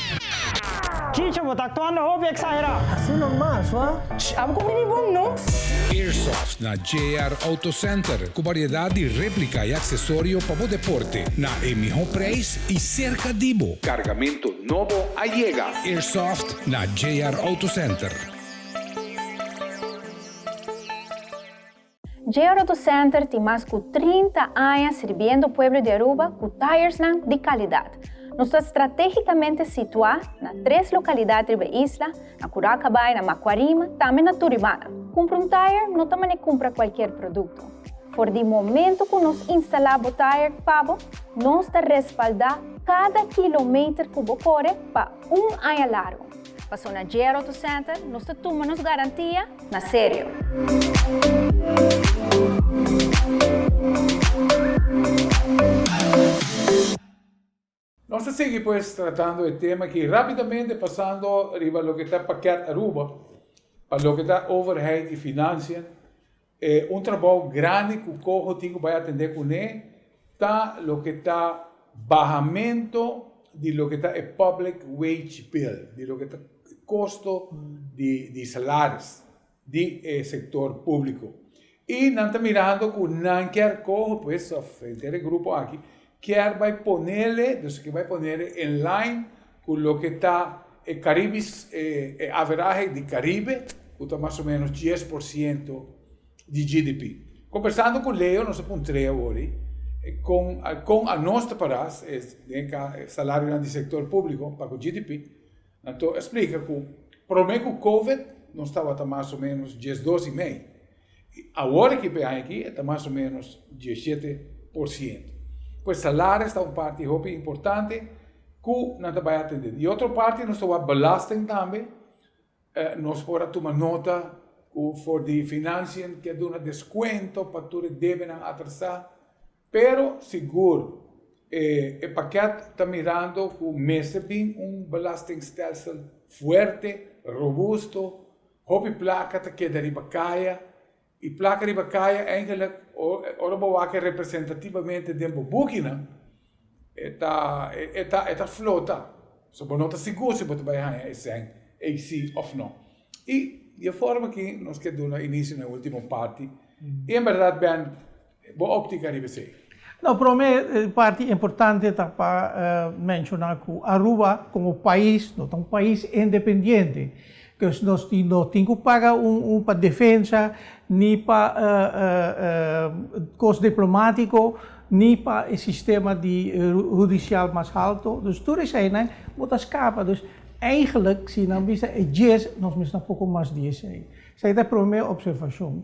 Chicho, bo ta actuando hopi exagerá. Así nomas wak. Ch, abo cu mini bon no. Airsoft na JR Auto Center cu variedad di replica y accesorio pa bo deporte na e miho prijs y cerca di bo. Cargamento nobo a yega. Airsoft na JR Auto Center. Georoto Center tin mas cu trinta aña sirbiendo pueblo di Aruba cu tyresnan di calidad. Nos ta strategicamente situa na tres localidad riba e isla, na Curacabaai, na Macuarima, tambe na Turibana. Cumpra un tyre no ta mane cumpra cualkier producto. For di momento cu nos instala bo tyre pa bo, nos ta respalda cada kilometer cu bo core pa un aña largo. Paso na J. Roto Center, nos ta tuma nos garantia na serio. Nos ta sigui pues tratando e tema aki, rapidamente pasando riba loke ta Pakket Aruba, pa loke ta Overheid y Financiën. E un trabao grandi cu Coho tin cu bay atende cune ta loke ta bahamento di loke ta e public wage bill, di loke ta e costo di salaris di e sector publico. Y nan ta mirando cu nan kier Coho pues of henter e grupo aki Kier bay ponele, dus aki bay ponele en line cu loke ta e Caribis e e averahe di Caribe cu ta mas o menos dies por ciento di GDP. Combersando cu Leo nos a puntre awori con con anos ta para e salario nan di sector publico pa cu GDP Nato a splica cu prome cu Covid nos tabata mas o menos diesdos y mei y awor aki p'e aña aki e ta mas o menos diesiete por ciento. Pues salaris ta un parti hopi importante cu nan ta bay a atende. Di otro parti nos ta wak belasting tambe, nos por a tuma nota cu for di Financiën ke a duna descuento pa tur e debenan atrasa Pero sigur, e e paket ta mirando cu mester bin un belastingstelsel fuerte, robusto, hopi placa ta keda riba caya, y placa riba caya eigenlijk ora bo wak representativamente den bo boekinan, e ta e ta e ta flota, so bo no ta sigur si bo ta bay haya e sèn ey si of no. Y di e forma aki nos ke duna inicio na e ultimo parti, y en berdad, Ben, Bo optica riba esey? No, prome parti importante ta pa menshona ku Aruba komo pais, no ta un pais independiente. Pues nos tin no tin ku paga un pa defensa, ni pa kos diplomatiko, ni pa e sistema di hudisial mas halto. Dus tur eseinan bo ta skapa. Dus eigenlik si nan bisa e djes nos mester na poko mas di esei. Esei ta e prome opservashon.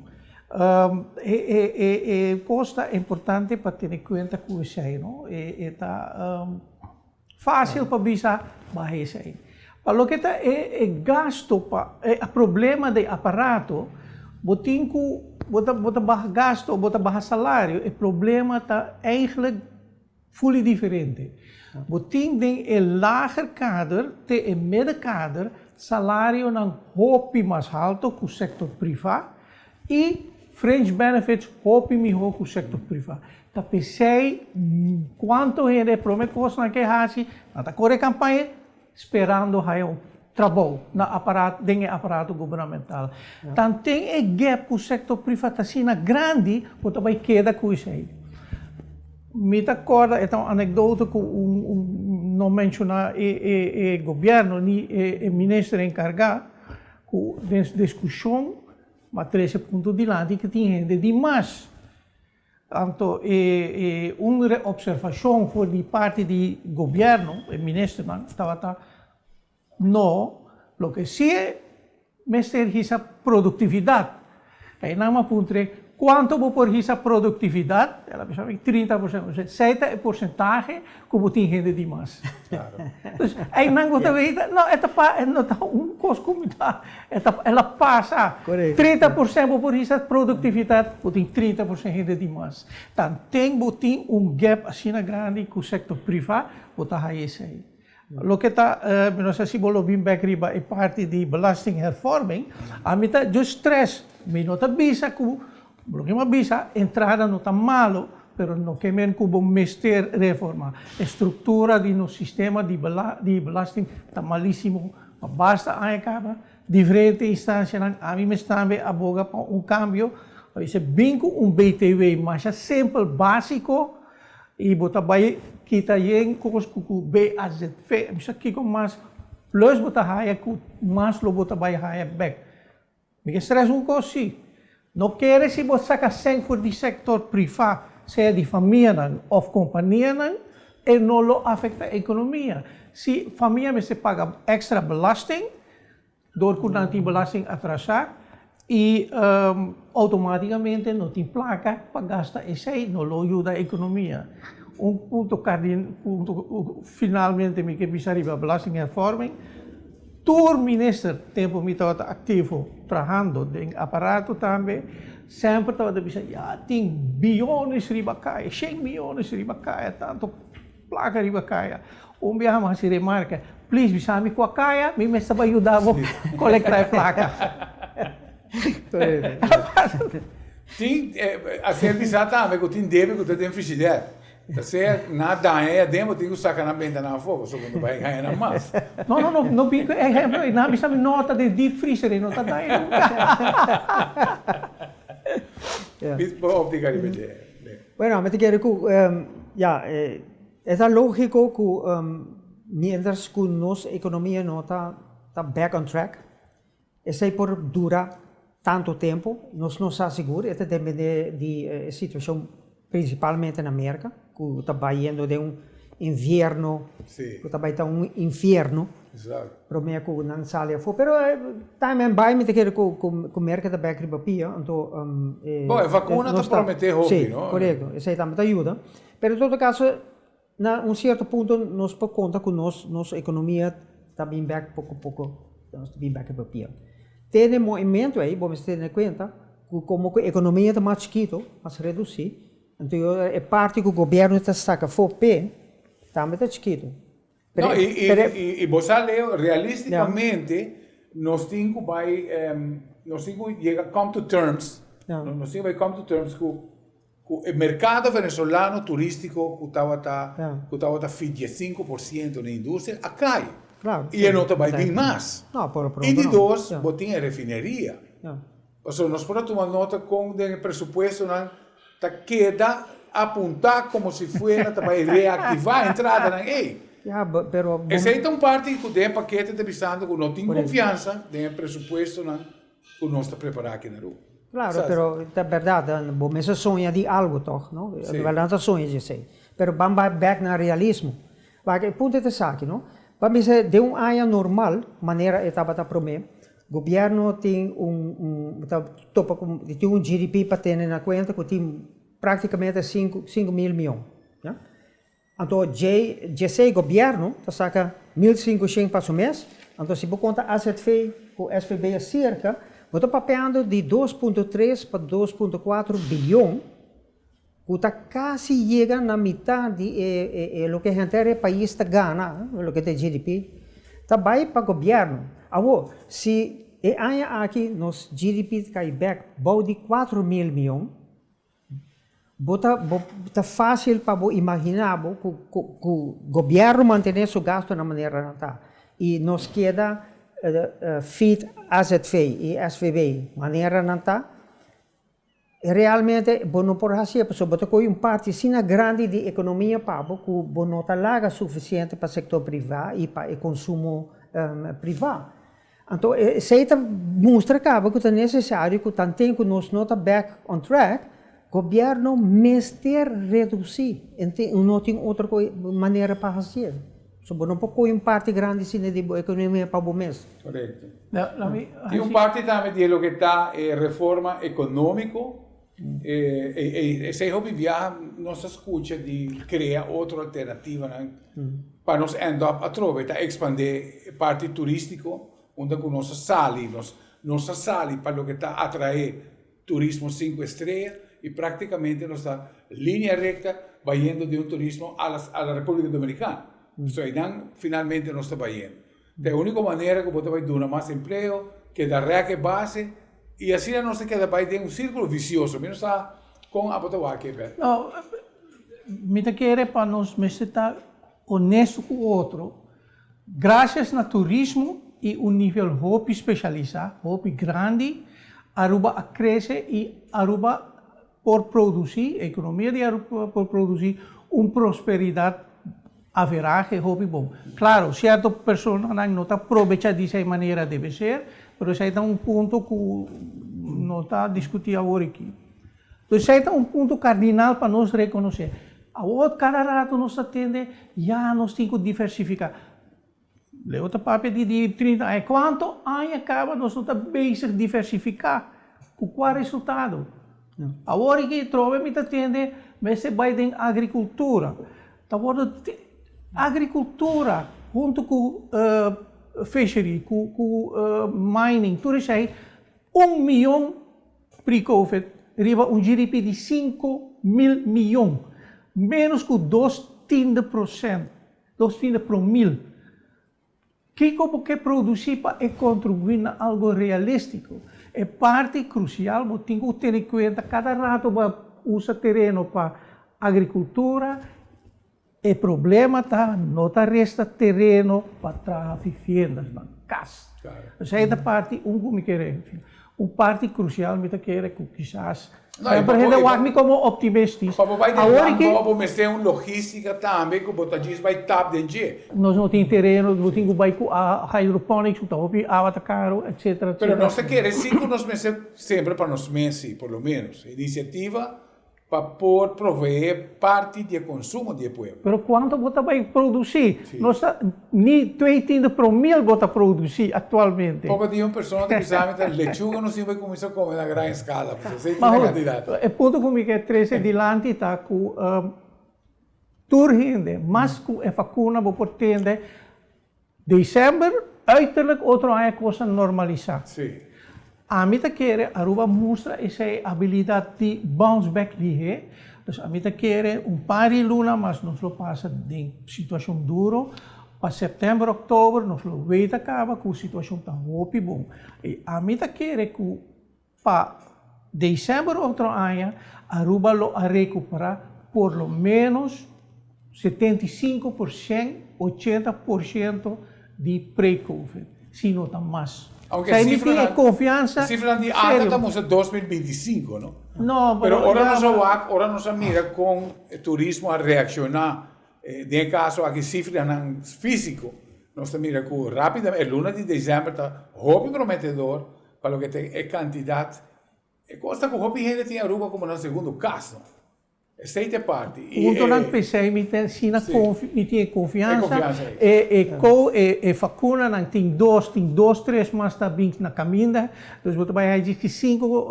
E cos ta importante pa tene cuenta cu esey no, e ta facil pa bisa baha esey. Pa loke ta e gasto pa e problema den aparato, bo tin cu bo ta baha gasto, bo ta baha salario, e problema ta eigenlijk. Fully diferente. Bo tin den e lager kader te e mede kader salarionan hopi mas halto ku sektor priva i fringe benefits hopi mihó ku sektor priva. Ta p'esei kuantu hende e prome kos nan ke hasi nan ta kore kampaña, sperando haya un trabou na aparato den e aparato gubernamental. Tan ten e gep ku sektor privat asina grandi ku ta bai keda ku esei. Mi ta kòrda e ta un anekdoto ku un no menshoná e gobièrnu ni e minister enkargá ku den diskushon a trese punto dilanti ku tin hende di mas Anto e un reobservashon for di parti di gobièrnu, e ministernan, tabata no, loke si e mester hisa produktividat. Einan mi a puntre, kuantu bo por hisa produktividat? El a bisa mi, trinta por sento. Kusé ta e porsentahe? Ku bo tin hende di mas. Entonces einan ku ta wei ta no e ta pa e no ta un kos ku mi ta e ta el a pasa. Trinta por sènt bo por hisa produktivitat bo tin trinta por sènt hende di mas. Tan ten bo tin un gèp asina grandi ku sektor privá bo ta haña esei. Loke ta mi no sa si bo lo bin bèk riba e parti di belastinghervorming a mi ta just stress mi no ta bisa ku Lo ke mi a bisa, entrada no ta malu, pero no ke men ku bo mester reformá. E struktura di nos sistema di di belasting ta malísimo. Pa basta aña kaba, diferente instansianan, ami mes tambe a boga pa un kambio. A bisa bin ku un btw masha simpel, básiko, i bo ta bai kita yen kos ku ku BAZV. Kiko mas plus bo ta haya ku mas lo bo ta bai haya bèk. Mi ke stres un kos si. No kere si bo sa ka sèn for di sektor privá, sea di famianan òf kompanianan, e no lo afektá ekonomia. Si famia mester paga èkstra belasting dor ku nan tin belasting atrasá i outomátikamente no tin plaka pa gasta esei, no lo yuda ekonomia. Un punto kardinal, punto finalmente mi ke bisa riba belastinghervorming. Tur minister tempo mi tabata activo trahando den aparato tambe semper tabata bisa ya tin biyones riba kaya, shen miyones riba kaya, tanto plaka riba kaya. Un biaha mi a hasi remarka, Plis bisa mi kua kaya mi mester bai yuda bo kolekta e plaka. Tin, a ser bisa tambe ku tin debe ku ta den frigider. Ta sea na daña ya den bo tin cu saca nan bentanan afo pasobra bo no bay gaña nan mas. No no no no bin cu e ehemplo ey. Nan a bisa mi no ta den deep freezer ey no ta daña nunca. Bit bo optica riba dje be. Bueno ami ta kere cu ya e ta logico cu mientras cu nos economia no ta back on track. Esei por dura tantu tempu, nos no sa sigur, e ta dependé di e situashon prinsipalmente na Merka, ku ta bai yendo den un invierno ku ta bai ta un infierno promé ku nan sali afó. Pero time en bai mi ta kere ku Merka ta bèk riba pia, anto e. Bo e vakuna ta prometé hopi no. Sí, korekto, esei tambe ta yuda, pero en todo kaso. Na un sierto punto nos por conta cu nos nos economia ta bin bek poco poco nos ta bin bek riba pie. Te den moemento ey bo mester tene cuenta cu como cu economia ta mas chikito, mas reduci, enton yo e parti cu gobierno ta saca fo p'e tambe ta chikito. No y y y bo sa Leo realisticamente nos tin cu bay nos tin cu yega come to terms nos tin cu bay come to terms cu. Ku e merkado venezolano turistiko ku tabata ku tabata fi dies sinku por siento na industria a kai i e no ta bai bin mas. I di dos bo tin e refineria. Paso nos por a tuma nota kon den e presupuestonan ta keda apunta komo si fuera ta bai reaktivá entradanan ei. Esei ta un parti ku den pakete ta bisando ku no tin konfiansa den e presupuestonan. ku nos ta prepará aki na Ruma. Klaro, pero ta bèrdat, bo mes a soña di algu tòg, no? Si. Bo nan ta soña di esei. Pero ban bai bèk na realismo. Pasobra e punto ta esaki, no? Ban bisa den un aña normal, manera e tabata promé, gobièrnu tin un, un, ta topa ku e tin un GDP pa tene na kuenta ku tin práktikamente sinku, sinku mil mion. Anto djei djesei gobièrnu ta saka mil sinku shen pa su mes. Anto si bo konta azv ku svb e serka, bo ta papeando di dos punto tres pa dos punto kuater bilyon, ku ta kasi yega na mitá di e loke e henter e pais ta gana, loke ta e GDP, ta bai pa gobièrnu. Awor, si e aña aki nos GDP ta kai bèk bou di kuater mil miyon, Bo ta bo ta fácil pa bo imaginá bo ku ku ku gobièrnu mantené su gastu na manera nan ta i nos keda feed azv i svb manera nan ta i realmente bo no por hasié pasobra bo ta kohe un parti asina grandi di ekonomia pa bo ku bo no ta laga sufisiente pa sektor privá i pa e konsumo privá. Anto esei ta mustra caba cu ta necesario cu tanten cu nos no ta back on track, gobierno mester reduci, no tin otro manera pa haci'e. So bo no por coge un parti grandi asina di bo economia pa bo mes. Correcto. Tin un parti tambe di e loke ta e reforma economico. Esei hopi biaha nos ta skucha di krea otro alternativanan pa nos end up atrobe, ta ekspandé e parti turístiko unda ku nos a sali, nos ta sali pa loke ta atraé turismo sinku estrella i praktikamente nos ta linea recta bayendo di un turismo a la Republika Dominikana, so einan finalmente nos ta bayendo. Ta e úniko manera ku bo ta bai duna mas empleo, keda rèk e base, i asina nos ta keda bai den un sírkulo visioso. Mi no sa kon abo ta wak e bèt. No, mi ta kere pa nos mester ta onesto ku otro. Grasias na turismo i un nivel hopi spesialisá, hopi grandi, Aruba a krese i Aruba por produci, economia di Aruba por por produci un prosperidad averahe hopi bon. Claro, cierto personanan no ta probecha di esai manera debe ser, pero esai ta un punto cu no ta discuti awor aki. Entonces esai ta un punto cardinal pa nos reconoce. Awor cada rato nos ta tende, ya nos tin cu diversifica. Leo ta papia di di trinta aña. Kuantu aña kaba nos no ta bezig diversifiká? Ku kua resultado? Awor aki trobe mi ta tende mester bai den agrikultura. Ta wordu agrikultura huntu ku fishery, ku mining, tur esei un mion pre-covid riba un GDP di sinku mil mion. Menos ku dos tiende prosènt. Dos finda pro mil. Kiko bo ke produsí pa e kontribuí na algu realístiko? E parti krusial bo tin ku tene kuenta kada rato bo a usa tereno pa agrikultura, e problema ta no ta resta tereno pa traha viviendasnan, kas. Esei ta parti un ku mi kere. Un parti crucial mi ta kere cu kisas semper hende wak mi como optimistis. Pa bo bai den landbou bo mester un logistica tambe cu bo ta djis bai tap den dje. Nos no tin tereno, bo tin cu bai cu hydroponics cu ta hopi awa ta caro, etc. Pero nos ta kere si cu nos mester semper pa nos mes si por lo menos iniciativa Pa por proveé parti di e konsumo di e pueblo. Pero kuantu bo ta bai produsí? Nos ta ni twee tiende promil bo ta produsí aktualmente. Popa dia un persona ta bisa mi ta lechuga nos tin bai kuminsá kome na gran eskala pasobra esei tin e kantidat. E punto ku mi ke trese dilanti ta ku tur hende mas ku e vakuna bo por tende. December, Uiterlijk otro aña cos a normalisá. Ami ta kere Aruba mustra esei habilidad di bounce back lihé, dus ami ta kere un par di luna mas nos lo pasa den situacion duro, pa september, october nos lo weta caba cu situacion ta hopi bon y ami ta kere cu Pa December otro aña, Aruba lo a recupera por lo menos setenta i sinku por cien, ochenta por ciento, di pre-Covid, si no ta mas. Aunke e cifranan, e cifranan di ata ta mustra dos mil binti i sinku, no? No, pero ora nos a wak, ora nos a mira con e turismo a reacciona den e caso aki cifranan fisico, nos ta mira cu rapidamente e luna di December ta hopi prometedor. Pa loke ta e kantidat, e kos ta ku hopi hende tin Aruba komo nan segundu kas, no? Esei ta e parti. Punto nan p'esei mi ta asina konfi, mi tin e konfiansa. E konfiansa ei. E e ko e fakunanan tin dos, tin dos tres mas ta bin na kaminda, dus bo ta bai haya djis ki sinku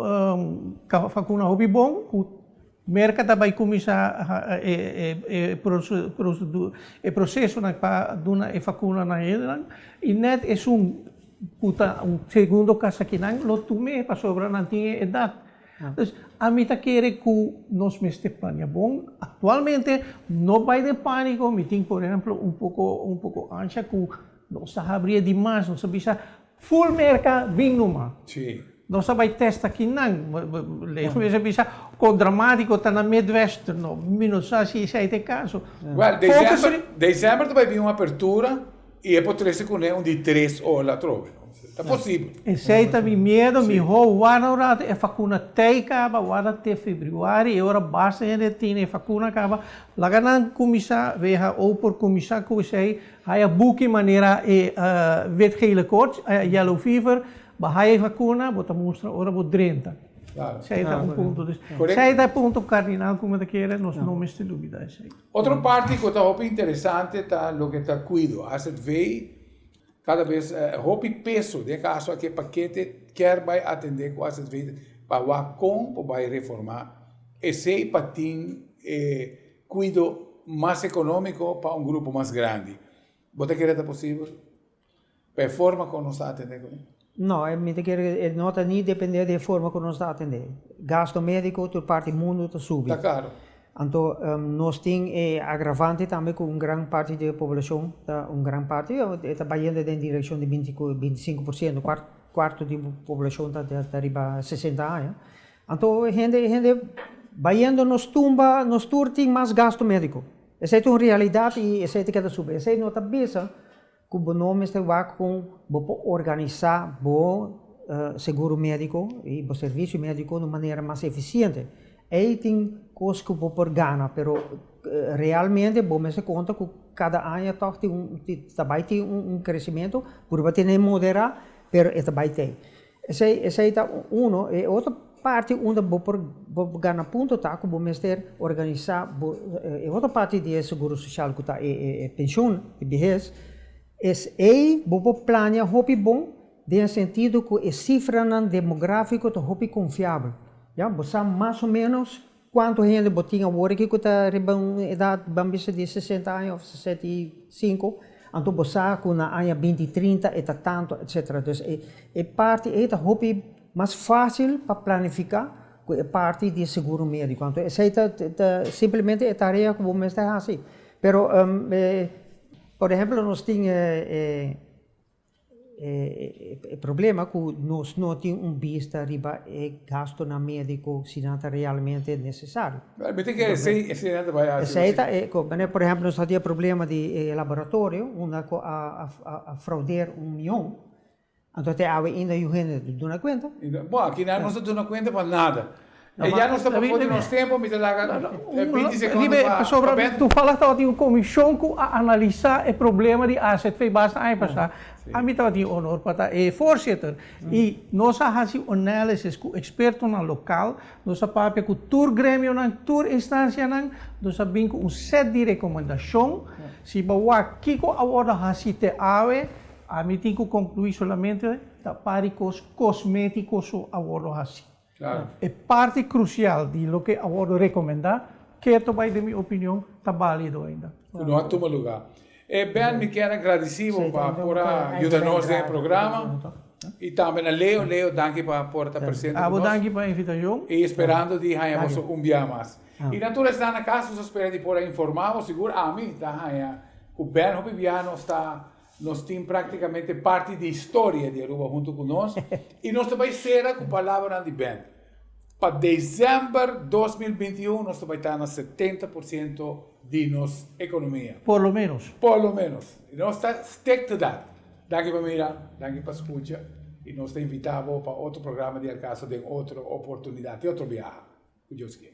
fakuna hopi bon ku. Merka ta bai kuminsá e prosesonan pa duna e fakuna na hendenan i nèt esun ku ta un segundo kasa kinan lo tum'é pasobra nan tin e edat. Dus ami ta kere ku nos mester plania bon. Aktualmente no bai den pániko, mi tin por ehèmpel un poko un poko ansha ku nos ta habri e di mas, nos ta bisa Full Merca bin numa. Nos a bai testa ki nan. Leo mester bisa kon dramatiko ta na Midwest. No, mi no sa si esei ta e kaso. Well, December, December ta bai bin un apertura i e por trese kuné un di tres ola atrobe. Ta posibel. Esei ta mi miedo, mihó warda un ratu e fakuna tei kaba, warda te febriuari, e ora basta hende tin e fakuna kaba, laga nan kuminsá, weha ou por kuminsá ku esei. Haya buki manera e wit-gele koorts, haya yellow fever, bo haya e vacuna, bo ta mustra ora bo drenta. Claro. Esei ta un punto. Dus, Correcto. esei ta e punto cardinal cu mi ta kere nos no mester lubida esei. Otro parti cu ta hopi interesante ta loke ta cuido. AZV cada vez hopi peso, den e caso aki e paquete kier bay atende cu AZV pa wak con por bay reforma esei pa tin e cuido mas economico pa un grupo mas grandi. Bo ta kere ta posibel pa e forma con nos ta atende cu e? No, mi ta kere e no ta ni depende di e forma cu nos ta atende. Gasto medico tur parti mundo ta subi. Ta caro. Anto nos tin e agravante tambe cu un gran parti di e poblacion, ta un gran parti, e ta bayende den direccion di binti binticinco por ciento, cuarto di poblacion ta riba sesenta aña, Anto e hende e hende bayendo nos tumba, nos tur tin mas gasto medico. Esey ta un realidad y esey ta keda subi. Esey no ta bisa cu bo no mester wak cu bo por organisa bo seguro medico y bo servicio medico na manera mas eficiente. Ey tin cos cu bo por gana, pero realmente bo mester conta cu cada aña toch tin un, ta bay tin un crecimiento, puru a tene moderá, pero e ta bay t'ey. Esei esei ta uno, e otro parti unda bo por bo por gana punto ta ku bo mester organisa bo e otro parti di e seguro sosial ku ta e e e penshon di bihes, es ei bo por plania hopi bon den e sentido ku e sifranan demografiko ta hopi konfiabel, ya, bo sa mas o menos Cuanto hende bo tin awor aki cu ta riba un edad, ban bisa di sesenta aña of sesenta y sinku, anto bo sa cu na aña binti trinta e ta tanto etc. Dus e e parti ey ta hopi mas facil pa planifica cu e parti di seguro medico, anto esey ta ta simplemente e tarea cu bo mester haci. Pero por ehemplo nos tin e E problema ku nos no tin un bista riba e gastunan médiko si nan ta realmente nesesario. Mi tin ke esei esei nan ta bai hasi esei. Esei ta e ku manera por ehèmpel nos a hadia e problema di e laboratorio unda ku a a fraudear un mion, anto te awe inda yu hende ta duna kuenta. Bo aki nan no ta duna kuenta pa nada. E ya nos ta pafó di nos tempo, mi ta laga binti sekondo pa Bert. Pasobra tufalha tabatin un komishon ku a analisá e problema di azv basta aña pasá, ami tabatin e onor pa ta e fòrsiter. I nos a hasi un análisis ku ekspertonan lokal, nos a papia ku tur gremionan, tur instansianan, nos a bin ku un sèt di rekomendashon. Si bo wak kiko a wòrdu hasi te awe, ami tin ku konkluí solamente ta par di kos kosmétiko so a wòrdu hasi. E parti krusial di loke a wòrdu rekomendá keto bai den mi opinion ta bálido ainda. Ku no a tuma lugá. E Ben mi kier a gradisí bo pa por a yuda nos den e programa i tambe na Leo. Leo danki pa por ta presente ku nos. Abo danki pa invitashon. I sperando di haña boso un bia mas. I na tur esnan na kas nos a spera di por a informá bo. Sigur ami ta haña ku Ben hopi biaha nos ta. Nos tin práktikamente parti di historia di Aruba huntu ku nos i nos ta bai sera ku palabranan di Bent. Pa desèmber dos mil binti i un nos ta bai ta na setenta por siento di nos ekonomia. Por lo ménos. Por lo ménos. I nos ta stik ta dat. Danki pa mira, danki pa skucha i nos ta invitá bo pa otro programa di Al Caso den otro oportunidat i otro biaha, ku Dios kier.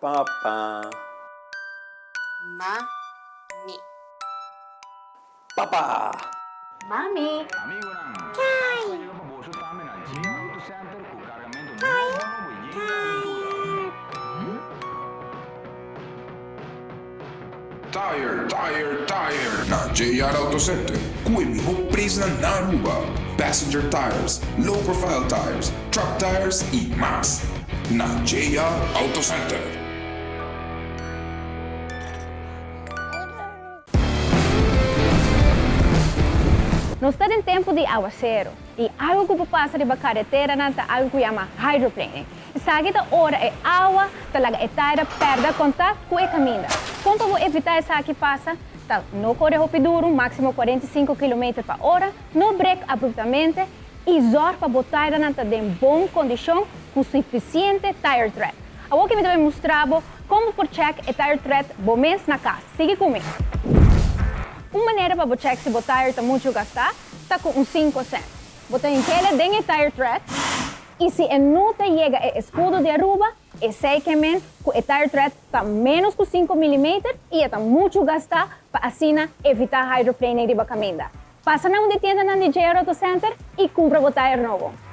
Papa. Mami. Papa. Mami. Kai. Kai. Kai. Tire, tire, tire! Na JR Auto Center, cu e miho presnan na Aruba, passenger tires, low profile tires, truck tires y mas. Na JR Auto Center. Nos ta den tempo di aguacero y algo cu por pasa riba carreteranan ta algo cu yama hydroplaning. Esaki ta ora e awa ta laga e taira pèrdè kontakt ku e kaminda. Kon pa bo evitá esaki pasa, ta, No kore hopi duru, máksimo kuarenta i sinku kilometer pa ora, no brek abruptamente i zòrg pa bo tairanan ta den bon kondishon ku sufisiente tire tread. Awoke mi ta bai mustra bo kon bo por chèk e tire tread bo mes na kas. Sigui ku mi. Un manera pa bo chèk si bo tair ta muchu gastá ta ku un sinko sènt. Bo ta inhela den e tire tread. I si e no ta yega e eskudo di Aruba, esei ke men ku e tire tread ta ménos ku sinku milimeter i e ta muchu gastá pa asina evitá hydroplaning riba kaminda. Pasa na un di tiendanan di JR Auto Center i kumpra bo tire nobo.